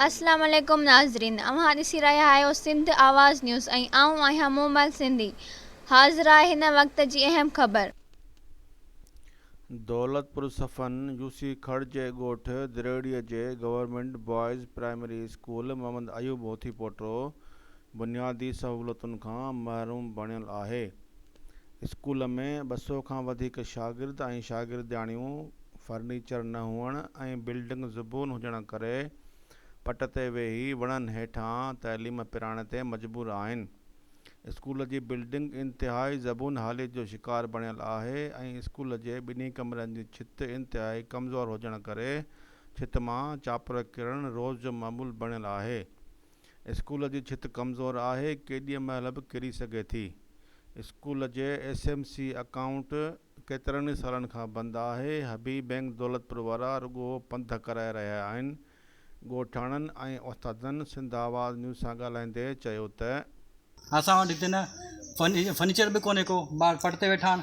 السلام عليڪم ناظرين اوهان ڏسي رهيا آهيو سنڌ آواز نيوز ۽ آئون آهيان مومل سنڌي حاضرآهي هن وقت جي اهم خبر. دولتپور صفن يوسي کڙ جي ڳوٺ دريڙي جي government boys primary school Muhammad Ayub Hothi پوٽو بنيادي سهولتن کان محروم بڻيل آهي. اسڪول ۾ ٻه سؤ کان وڌيڪ شاگرد ۽ شاگردياڻيون فرنيچر نه هئڻ ۽ بلڊنگ زبون هجڻ ڪري پٽ تي ويهي وڻن هيٺان تعليم پرائڻ تي مجبور آهن. اسڪول جي بلڊنگ انتهائي زبون حاليت جو شڪار بڻيل آهي ۽ اسڪول جي ٻنهي ڪمرن جي ڇت انتهائي ڪمزور هجڻ ڪري ڇت مان چاپر ڪرڻ روز جو معمول بڻيل آهي. اسڪول جي ڇت ڪمزور آهي، ڪيڏيء مهل به ڪري سگهي ٿي. اسڪول جي ايس ايم سي اڪائونٽ ڪيترن ئي سالن کان بند آهي. حبيب بينڪ دولتپور وارا رڳو پنڌ ڪرائي رهيا آهن. ڳوٺاڻن ۽ استادن سنڌ آواز نيوز سان ڳالهائيندي چيو ته. اسان وٽ هتي نه فرنيچر به ڪونهي ڪو، ٻار پٽ تي ويٺا آهن.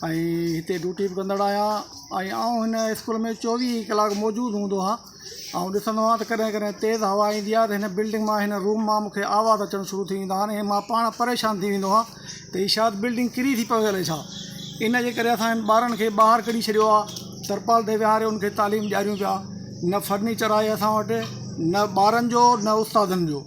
۽ هتي ڊيوٽي به ڪندڙ آهيان ۽ آئون هن اسڪول ۾ چوويهه ئي ڪلاڪ موجود هوندو آهيان آئون ڏسندو آهيان ته ڪڏهن ڪڏهن تيز هوا ايندي آهي ته هن بلڊنگ مان هن روم مان مون کي آواز اچڻ شروع ٿي ويندا آهن ۽ مان پاڻ پريشان ٿي ويندو آهيان ته هي شايد بلڊنگ ڪري ٿي پوي هلي ڇا ان جي ڪري اسان هن ٻارن کي ٻاهر ڪڍي ڇڏيو آهي ترپال تي ويهاري ان کي تعليم ڏياريون پيا نه فرنيچر آهي اسان وٽ نه ٻارن جو نه استادن جو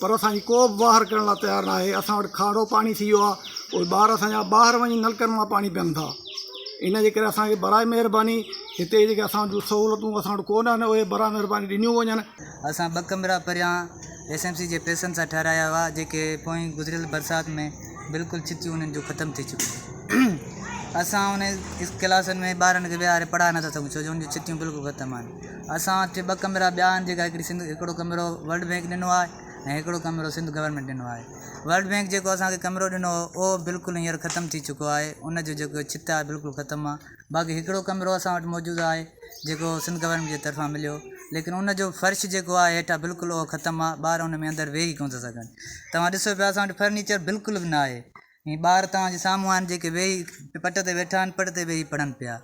پر اسان جي ڪو به واهر ڪرڻ لاء تيار نه آهي اسان وٽ کارو پاڻي ٿي ويو آهي اهي ٻار اسان جا ٻاهر وڃي نلڪن مان پاڻي پين ٿا ان جي ڪري اسان کي براء مهرباني هتي جيڪي اسان جون سهولتون اسان وٽ ڪو نه آهن اهي براء مهرباني ڏنيون وڃن اسان ٻه ڪمرا پريان ايس ايم سي جي پئسن سان ٺهرايا هئا جيڪي پوئين گذريل برسات ۾ بلڪل ڇتيون انهن جون ختم ٿي چڪيون اسان انهن ڪلاسن ۾ ٻارن کي ويهاري پڙهائي نٿا سگهون ڇو جو ان جون ڇتيون بلڪل ختم آهن اسان وٽ ٻه ڪمرا ٻيا آهن جيڪا هڪڙي سنڌ هڪڙو ڪمرو ورلڊ بينڪ ڏنو آهي ۽ هڪڙو ڪمرو سنڌ گورنمينٽ ڏنو آهي ورلڊ بينڪ جيڪو اسانکي ڪمرو ڏنو هو اهو بلڪل هينئر ختم ٿي چڪو آهي ان جو جيڪو ڇت آهي بلڪل ختم آهي باقي هڪڙو ڪمرو اسان وٽ موجود آهي جيڪو سنڌ گورنمينٽ جي طرفان مليو ليڪن ان جو فرش جيڪو آهي هيٺان بلڪل اهو ختم آهي ٻار ان ۾ اندر ويهي ڪونه ٿا سگهن توهان ڏسو پيا اسان وٽ فرنيچر بلڪل به ناهي هي ٻار توهان جي سامهون آهن جيڪي ويهي پٽ تي ويٺا آهن پٽ تي ويهي پڙهن پيا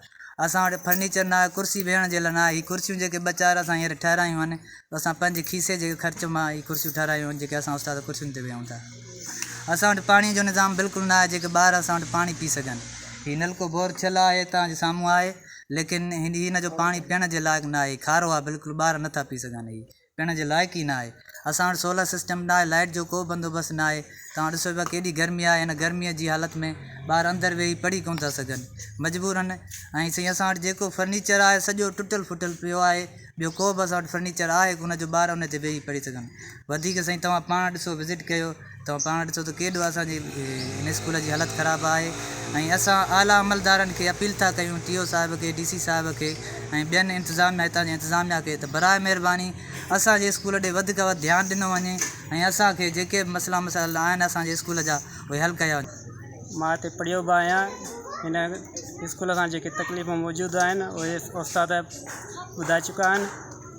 اسان وٽ فرنيچر نه آهي ڪرسي ويهڻ جي لاء نه آهي هي ڪرسيون جيڪي ٻه چار اسان هينئر ٺهرايون آهن اسان پنهنجي کيسي جي خرچ مان هي ڪرسيون ٺهرايون آهن جيڪي اسان استاد ڪرسين تي ويهون ٿا اسان وٽ پاڻي جو نظام بلڪل نه آهي جيڪي ٻار اسان وٽ پاڻي پي سگهن هي نلڪو بور ٿيل آهي توهان جي سامهون آهي ليڪن هن جو پاڻي پيئڻ جي لائق نه آهي کارو آهي بلڪل ٻار نٿا پي سگهن هي پيئڻ جي لائق ئي ناهي. اسان وٽ سولر سسٽم به ناهي، لائيٽ جو ڪو به بندوبست ناهي. توهان ڏسو پيا ڪيڏي گرمي آهي. هن گرميء جي حالت ۾ ٻار اندر ويهي پڙهي ڪونه ٿا سگهن. مجبورن ۽ سائين اسان وٽ جيڪو فرنيچر آهي سڄو ٽٽل ڦٽل پيو آهي. ٻيو ڪو به اسان وٽ فرنيچر آهي ڪونه جو ٻار ان تي ويهي پڙهي سگهن. وڌيڪ سائين توهان پاڻ ڏسو وزٽ ڪيو. توهان پاڻ ڏسو ته ڪيڏو اسان جي هن اسڪول جي حالت خراب آهي ۽ اسان اعليٰ عملدارن کي اپيل ٿا ڪيون ٽي او صاحب کي ڊي سي صاحب کي ۽ ٻين انتظاميا هتان جي انتظاميا کي ته براء مهرباني اسان جي اسڪول ڏي وڌ کان وڌ ڌيان ڏنو وڃي ۽ اسان کي جيڪي به مسئلا مسائل آهن اسان جي اسڪول جا اهي حل ڪيا وڃن. مان هتي پڙهيو به آهيان هن اسڪول سان جيڪي تڪليفون موجود آهن اهي استاد ٻڌائي چڪا آهن.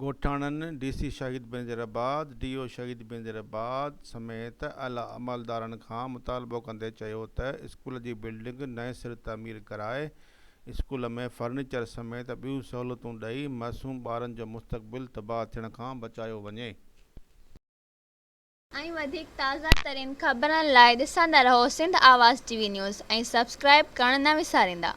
ڳوٺاڻن، ڊي سي شهيد بينظير آباد، ڊي او شهيد بينظير آباد سميت اعليٰ عملدارن کان مطالبو ڪندي چيو ته اسڪول جي بلڊنگ نئين سر تعمير ڪرائي اسڪول ۾ فرنيچر سميت ٻيون سهولتون ڏئي معصوم ٻارن جو مستقبل تباهه ٿيڻ کان بچايو وڃي. ۽ وڌيڪ تازه ترين خبرن لاء ڏسندا رهو سنڌ آواز ٽي وي نيوز ۽ سبسڪرائيب ڪرڻ نه وساريندا.